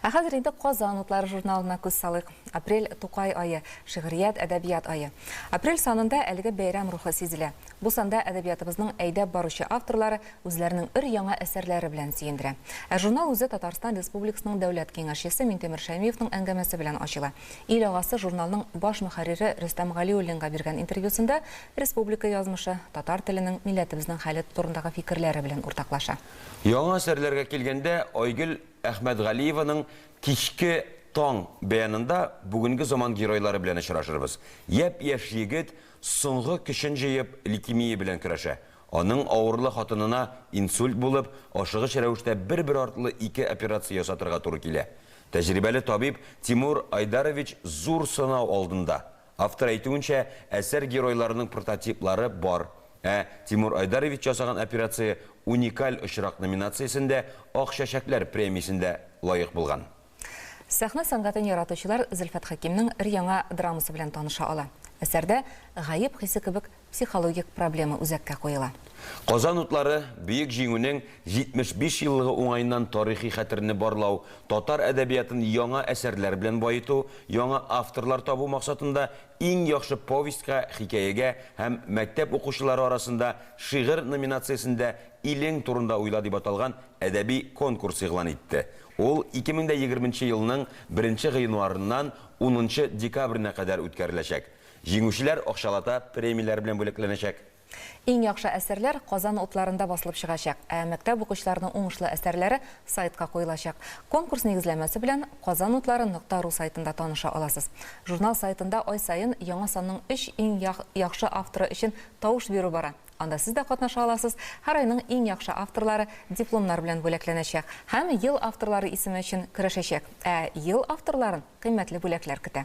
Ә хәзер инде Казан утлары журналына күз салыйк. Апрель, Тукай ае, шигърият, әдәбият ае. Апрель санында әлеге бәйрәм рухы сизелә. Бу санда әдәбиятыбызның әйдәп баручы авторлары үзләренең өр-яңа әсәрләре белән сөендерә. Ә журнал үзе Татарстан Республикасының Дәүләт киңәшчесе Минтимер Шәймиевның әңгәмәсе белән ачыла. Ил агасы журналның баш мөхәррире Рөстәм Галиуллинга биргән интервьюсында республика язмышы, татар теленең, милләтебезнең хәле турындагы фикерләре белән уртаклаша. Яңа әсәрләргә килгәндә, Айгөл Әхмәтгалиеваның Кичке таң бәянында бүгенге заман геройлары белән очрашырбыз. Япь-яшь егет соңгы көчен җыеп лейкемия белән көрәшә. Аның авырлы хатынына инсульт булып, ашыгыч рәвештә бер-бер артлы ике операция ясатырга туры килә. Тәҗрибәле табиб Тимур Айдарович зур сынау алдында. Автор әйтүенчә, әсәр геройларының прототиплары бар. Ә Тимур Айдарович ясаган операция Уникаль очрак номинациясендә Ак чәчәкләр премиясендә лаек булган. Сәхнә сәнгатен яратучылар Зөлфәт Хәкимнең өр-яңа драмасы белән таныша ала. Әсәрдә гаеп хисе кебек Психологик проблема үзәккә куела. Казан утлары Бөек Җиңүнең 75 еллыгы уңаеннан тарихи хәтерне барлау, татар әдәбиятын яңа әсәрләр белән баету, яңа авторлар табу максатында Иң яхшы повестька, хикәягә һәм Мәктәп укучылары арасында шигырь номинациясендә Илең турында уйла дип аталган әдәби конкурс игълан итте. Ул 2020 елның 1 гыйнварыннан унынчы декабренә кадәр үткәреләчәк. Җиңүчеләр акчалата премияләр белән бүләкләнәчәк. Иң яхшы әсәрләр Казан утларында басылып чыгачак, ә мәктәп укучыларының уңышлы әсәрләре сайтка куелачак. Конкурс нигезләмәсе белән Казанутлары нокта ру сайтында таныша аласыз. Журнал сайтында ай саен яңа санның өч иң яхшы авторы өчен тавыш бирү бара. Анда сез дә катнаша аласыз. Һәр айның иң яхшы авторлары дипломнар белән бүләкләнәчәк һәм Ел авторлары исеме өчен көрәшәчәк. Ә Ел авторларын кыйммәтле бүләкләр көтә.